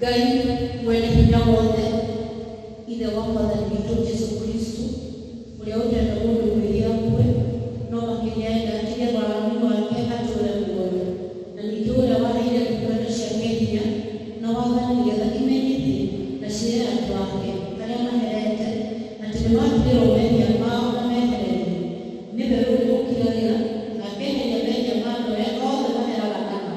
Ngai Mwene-Hinya-Wothe, Ithe wa Mwathani witũ Jesu Kristo, ũrĩa ũtenda mũndũ mwĩhia akue, no makĩria enda atige waganu wake atũũre muoyo, na ningĩ ũrĩa waheire ndungata ciake hinya na wathani nĩgetha imenyithie na ciĩre andũ ake arĩa maherete atĩ nĩmatigĩrwo mehia mao na mehererio, nĩwe ũrĩmũkiragĩra na akeheria mehia ma andũ arĩa othe maheraga na ma.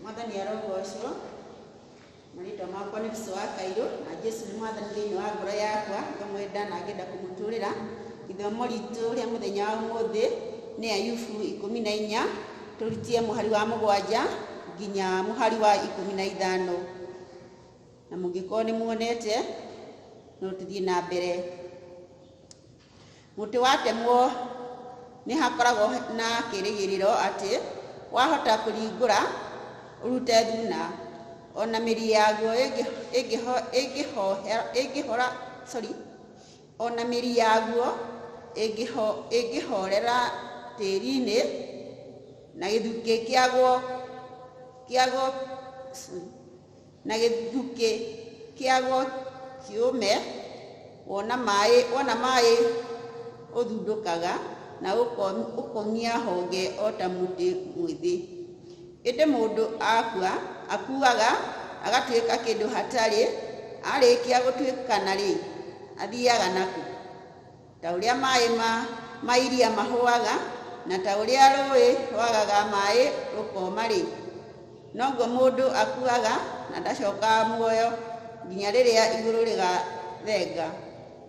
mwathani arogocwo na rĩtwa makwa nĩ biso wa kairũ na jesu nĩ mwathani thĩinĩ wa ngoro yakwa ngamwenda na ngenda kũmũtũrĩra ithomo ritũ rĩa mũthenya wa ũmũthĩ nĩ ayubu ikũmi na inya tũrutie mũhari wa mũgwanja nginya mũhari wa ikũmi na ithano na mũngĩkorwo nĩ muonete no tũthiĩ na mbere mũtĩ watemwo nĩ hakoragwo na kĩrĩgĩrĩro atĩ wahota kũringũra ũrute thuna ona mĩri yaguo ĩngĩ- ĩngĩho- ĩngĩhohe- ĩngĩhora sorry ona mĩri yaguo ĩngĩho- ĩngĩhorera tĩri-inĩ na gĩthukĩ kĩaguo kĩaguo sorry, na gĩthukĩ kĩaguo kĩũme, wona maĩ, wona maĩ ũthundũkaga na ũkomia honge o ta mũtĩ mwĩthĩ. Ĩndĩ mũndũ akua, akuaga agatuĩka kĩndũ hatarĩ, arĩkia gũtuĩkana-rĩ, athiaga nakũ? Ta ũrĩa maĩ ma ma iria mahũaga, na ta ũrĩa rũĩ rwagaga maĩ rũkoma-rĩ, noguo mũndũ akuaga na ndacokaga muoyo nginya rĩrĩa igũrũ rĩgathenga.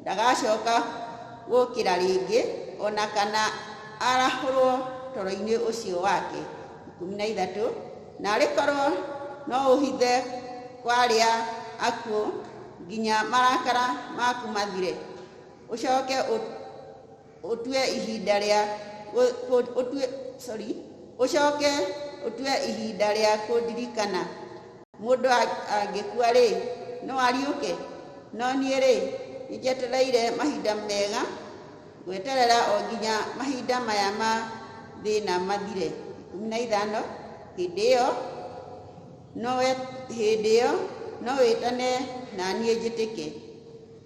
Ndagacoka gũkĩra rĩngĩ, o na kana arahũrwo toro-inĩ ũcio wake. Ikũmi na ithatũ, na arĩ korwo no ũhithe kwa arĩa akuũ nginya marakara maku mathire. ũcoke ũtue ihinda rĩa ũtue sorry ũcoke ũtue ihinda rĩa kũndirikana mũndũ angĩkua-rĩ no ariũke no niĩ-rĩ nĩnjetereire mahinda mega gweterera o nginya mahinda maya ma thĩna mathire ikũmi na ithano hĩndĩ ĩyo no hĩndĩ ĩyo no wĩtane na niĩ njĩtĩke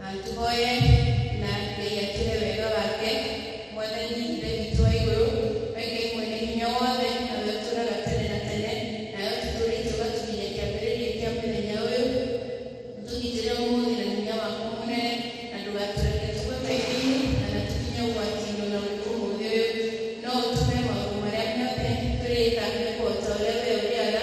Na tũhoye na Ngai atũhe wega wake. Mwathani Ithe witũ wa igũrũ, we Ngai mwene hinya wothe, nawe ũtũũraga tene na tene, nawe ũtũtũũrĩte ũgatũkinyia kĩambĩrĩria kĩa mũthenya ũyũ. Ũtũgitĩre ũmũthĩ na hinya waku mũnene, na ndũgatũreke tũgwe maĩ-inĩ kana tũkinye ũgwati-inĩ o na ũrĩkũ ũmũthĩ ũyũ, no ũtũhe maũndũ marĩa mothe tũrĩka mekwo o ta ũrĩa we ũrĩaga,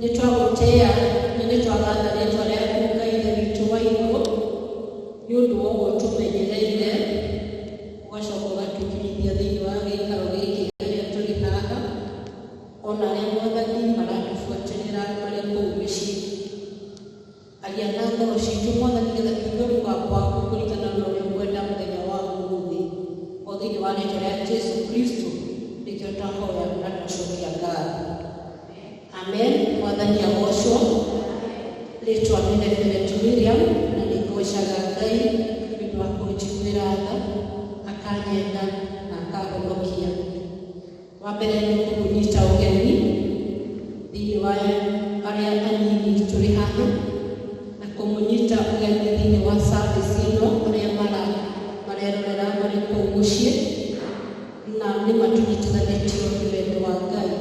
Nĩ twagũtĩĩa na nĩ twagatha rĩĩtwa rĩaku Ngai Ithe witũ wa igũrũ, nĩ ũndũ wa ũguo ũtũmenyereire, ũgacoka ũgatwĩkinyithia thĩinĩ wa gĩikaro gĩkĩ arĩa tũrĩ haha, o na arĩa mwathani maratũbuatĩrĩra marĩ kũu mĩciĩ. Aria na ngoro ciitũ, Mwathani, nĩgeetha tũigue mũgambo waku kũringana na ũrĩa ũkwenda mũthenya wa ũmũthĩ. O thĩinĩ wa rĩĩtwa rĩa Jesu Kristo nĩkĩo twahoya na twacokia ngatho. Amen. Mwathani agoocwo. Rĩĩtwa nĩ Reverend Miriam, na nĩ ngoocaga Ngai nĩ ũndũ wa kũnjiguĩra tha, akanyenda na akahonokia. Wa mbere nĩ kũmũnyita ũgeni thĩinĩ wa arĩa anini tũrĩ haha na kũmũnyita ũgeni thĩinĩ wa service ĩno arĩa marerorera marĩ kũu mũciĩ na nĩ ma tũnyitithanĩtio nĩ wendo wa Ngai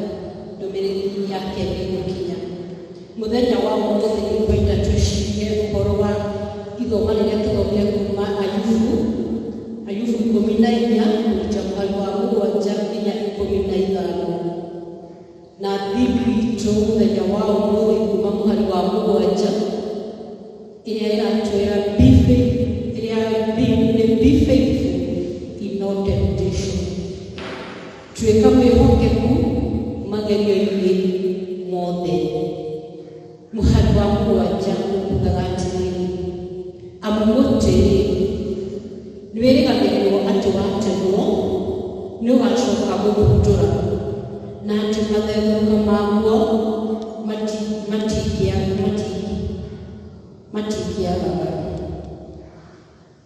ndũmĩrĩri yake nĩ ĩgũkinya. Mũthenya wa ũmũthĩ nĩ ngwenda twĩcirie ũhoro wa ithoma rĩrĩa tũthomire kuuma Ayubu, Ayubu ikũmi na inya kũruta mũhari wa mũgwanja nginya ikũmi na ithano na Bible itũ mũthenya wa ũmũthĩ kuuma mũhari wa mũgwanja ĩrĩa ĩratwĩra be faith, ĩrĩa theme nĩ be faithful in all temptation. Tuĩka mwĩhokeku magerio-inĩ mothe. Mũhari wa mũgwanja ũkugaga atĩrĩrĩ, amu mũtĩ-rĩ, nĩwĩrĩgagĩrĩrwo atĩ watemwo nĩũgacoka gũthundũra, na atĩ matherũka maguo mati- matingĩa- mati- matingĩagaga.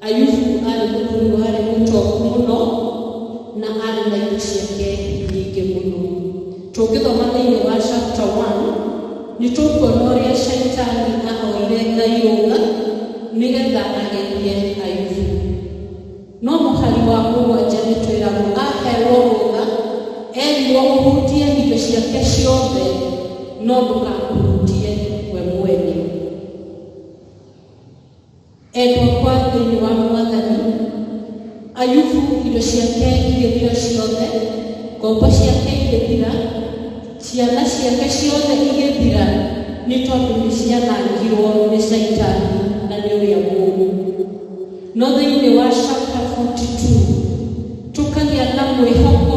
Ayubu aarĩ mũthuri warĩ mũtongu mũno na arĩ na indo ciake nyingĩ mũno. Tũngĩthoma thĩinĩ wa chapter 1 nĩ tũkuona ũrĩa Shaitani ahoire Ngai rũtha nĩgetha agerie Ayubu. No mũhari wa mũgwanja nĩ twĩragwo aheirwo rũtha erirwo ũhutie indo ciake ciothe no ndũkahutie we mwene. Endwa kwa thĩinĩ wa Mwathani, Ayubu indo ciake igĩthira ciothe, ngombo ciake igĩthira, ciana ciake ciothe igĩthira, nĩ tondũ nĩ cianangirwo nĩ Shaitani na nĩ ũrĩa mũũru. No thĩinĩ wa chapter 42 tũkagĩa na mwĩhoko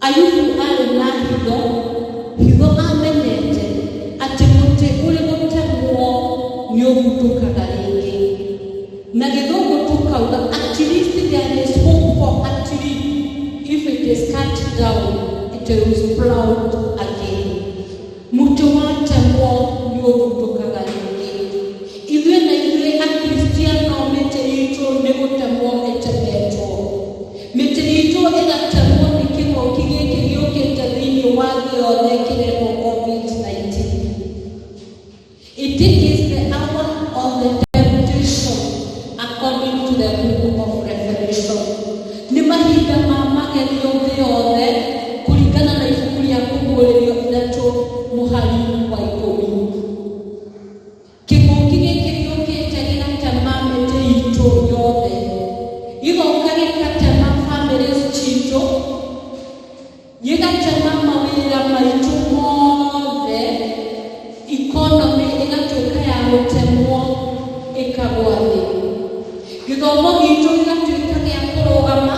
Ayubu arĩ na hitho, hitho amenyete atĩ mũtĩ ũrĩ gũtemwo nĩ ũgutũkaga rĩngĩ. Na gĩthũngũ tũkauga at least there is hope for a tree if it is cut down it will sprout again. Mũtĩ watemwo nĩũthundũkaga rĩngĩ. Ithuĩ na ithuĩ Akristiano mĩtĩ itũ nĩ gũtemwo ĩtemetwo. Mĩtĩ itũ ĩgatemwo nĩ kĩng'ũki gĩkĩ gĩũkĩte thĩinĩ wa thĩ yothe kĩretwo Covid-19. It is the hour of the temptation according to the book of Revelation. Nĩ mahinda ma magerio thĩ yothe kũringana na ibuku rĩa kũguũrĩrio ithatũ mũhari wa ikũmi. Kĩng'ũki gĩkĩ gĩũkĩte gĩgatema mĩtĩ itũ yothe, gĩgoka gĩgatema families citũ, gĩgatema mawĩra maitũ mothe ikonomĩ ĩgatuĩka ya gũtemwo ĩkagwa thĩ gĩthomo gitũ gĩgatuĩka gĩa kũrũgama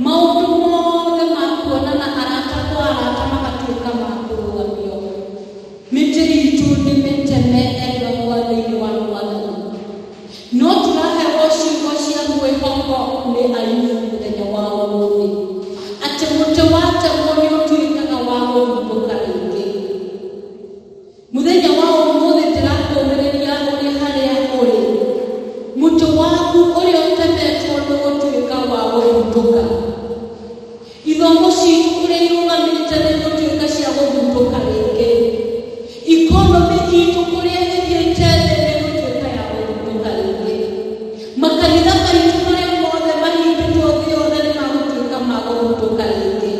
maũndũ mothe ma kuonana arata kwa arata magatuĩka ma kũrũgamio Mĩtĩ itũ nĩ mĩteme endwa kwa thĩinĩ wa Mwathani. No tũraheo ciugo cia mwĩhoko nĩ Ayubu mũthenya wa ũmũthĩ. Atĩ mũtĩ watemwo nĩ ũtuĩkaga wa gũthumbũka rĩngĩ. Mũthenya wa ũmũthĩ ndĩrakũmĩrĩria ũrĩ harĩa ũrĩ. Mũtĩ waku ũrĩa ũtemetwo nĩ gũtuĩka wa gũthumbũka. Ithũngũ citũ kũrĩa irũgamĩte nĩ gũtuĩka cia gũthundũka rĩngĩ. Ikonomĩ itũ kũrĩa ĩthiĩte thĩ nĩ gũtuĩka ya gũthundũka rĩngĩ. Makanitha maitũ marĩa mothe mahingĩtwo thĩ yothe nĩ magũtuĩka ma gũthundũka rĩngĩ.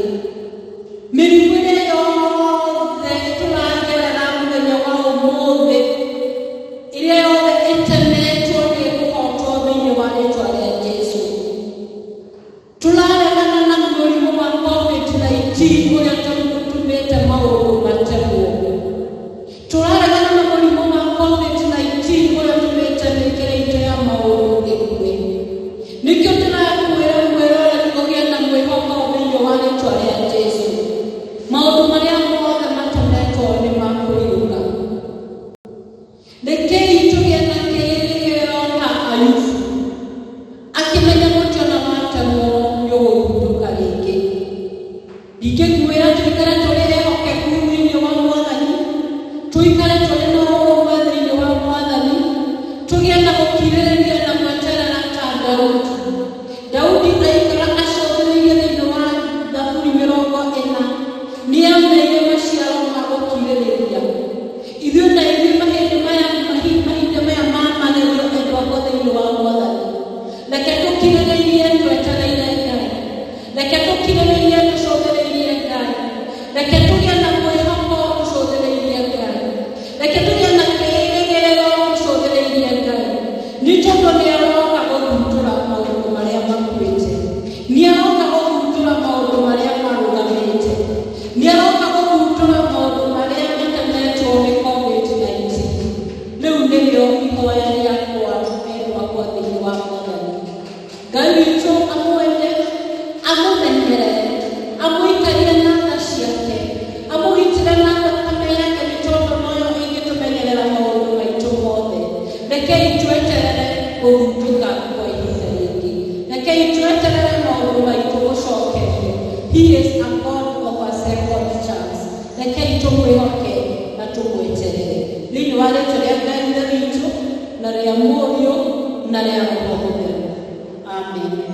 Mĩrimũ ĩrĩa yothe tũragerera mũthenya wa ũmũthĩ, ĩrĩa yothe ĩtemetwo nĩ ĩkũhotwo thĩinĩ wa rĩtwa rĩa Jesu. tũraregana na mũrimũ wa COVID-19 ũrĩa tondũ ũtumĩte maũndũ mate mũndũ. Tũraregana na mũrimũ wa COVID-19 ũrĩa ũtumĩte mĩkĩre itũ ya maũndũ ĩkuwe. Nĩkĩo tũrakwĩra mwĩroreri ũgĩe na mwĩhoko thĩinĩ wa rĩtwa rĩa Jesu. Maũndũ marĩa mothe matemetwo nĩ makũrirũka. Rekei tũgĩe na kĩĩrĩgĩrĩro na Ayubu, akĩmenya gũtio na watemwo nĩ ũgũthundũka rĩngĩ. Ndingĩkuĩra tũikare tũrĩ ehokeku thĩinĩ wa Mwathani, tũikare tũrĩ na ũrũmwe thĩinĩ wa Mwathani, tũgĩe na gũkirĩrĩria na gweterera ta Daudi. Daudi aikara acũthĩrĩirie thĩinĩ wa Thaburi mĩrongo ĩna, nĩameire maciaro ma gũkirĩrĩria. Ithuĩ na ithuĩ mahĩndĩ maya mahi- mahinda maya ma magerio endwa akwa thĩinĩ wa mwathani reke tũkirĩrĩirie twetereire ngai reke tũkirĩrĩirie tũcũthĩrĩirie ngai reke tũgĩe na mwĩhoko tũcũthĩrĩirie ngai reke tũgĩe na kĩĩrĩgĩrĩro tũcũthĩrĩirie ngai nĩ tondũ nĩ aroka gũthutũra maũndũ marĩa makuĩte nĩ aroka gũthutũra maũndũ marĩa marũgamĩte Nĩaroka gũthundũra maũndũ marĩa matanetwo nĩ Covid-19. Rĩu nĩrĩo ihoya rĩakwa, endwa akwa thĩinĩ wa Mwathani. Ngai witũ amwende, amũmenyere, amũikarie na tha ciake, amũgitĩre na thakame yake, nĩ tondũ noyo ĩngĩtũmenyerera maũndũ maitũ mothe. Rekei tweterere gũthundũka kwa ihinda rĩngĩ. Rekei tweterere maũndũ maitũ gũcokerio. He is a God of a second chance. Rekei tũmwĩhoke na tũmweterere. Thĩinĩ wa rĩtwa rĩa Ngai Ithe witũ na rĩa Mũriũ na rĩa Roho Mũtheru. Amen.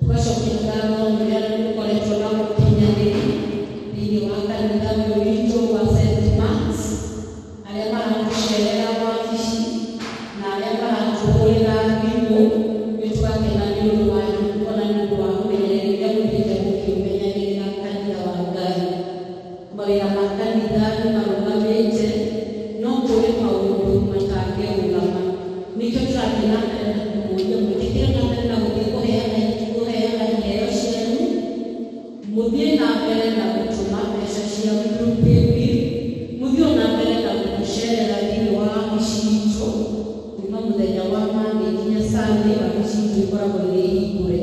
Tũgacokia ngatho nĩ ũrĩa nĩ mũkoretwo na ũkinyanĩri thĩinĩ wa kanitha ũyũ witũ wa St. Marks, arĩa maratũcerera wabici na arĩa maratũhũrĩra thimũ, nĩ tũgakena nĩ ũndũ wanyu, ona nĩ ũndũ wa ũmenyereri ũrĩa mũthiĩte mũkĩũmenyagĩrĩra kanitha wa Ngai. Mawĩra ma kanitha nĩ marũgamĩte, no kũrĩ maũndũ matangĩrũgama. Nĩkĩo tũrathiĩ na mbere na kũmũria mũĩtĩkĩre na mbere na gũthiĩ kũheana kũheana iheo cianyu, mũthiĩ na mbere na gũtũma mbeca cia through paybill, mũthiĩ o na mbere na gũtũcerera thĩinĩ wa wabici itũ kuma mũthenya wa Monday nginya Sunday, wabici itũ ikoragwo irĩ hingũre.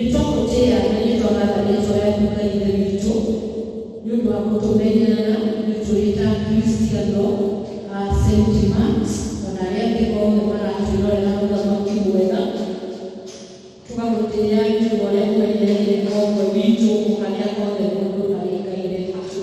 Nĩtwamũtĩĩa na nĩtwagatha rĩĩtwa rĩaku Ngai Ithe witũ, nĩ ũndũ wa gũtũmenyerera ithuĩ tũrĩ ta Akristiano a Saint Marks, o na arĩa angĩ othe maratwĩrorera Mũthamaki mwega, tũgagũtĩĩa nĩ ũndũ wa ũrĩa ũmenyereire o ũmwe witũ o harĩa hothe mũndũ arĩ Ngai Ithe witũ.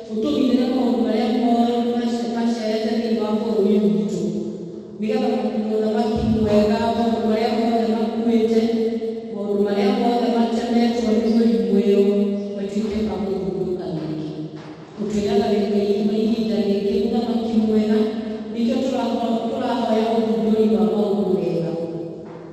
ũtũgitĩre maũndũ marĩa moru macereire thĩinĩ wa bũrũri witũ, nĩgetha mũthamaki mwega, maũndũ marĩa mothe makuĩte, maũndũ marĩa mothe matemetwo nĩ mũrimũ ĩyo matuĩke ma gũthundũka rĩngĩ. Ũtwĩraga thĩinĩ wa ihinda rĩngĩ, mũthamaki mwega, nĩkĩo tũrahoya ũthundũri wa maũndũ mega.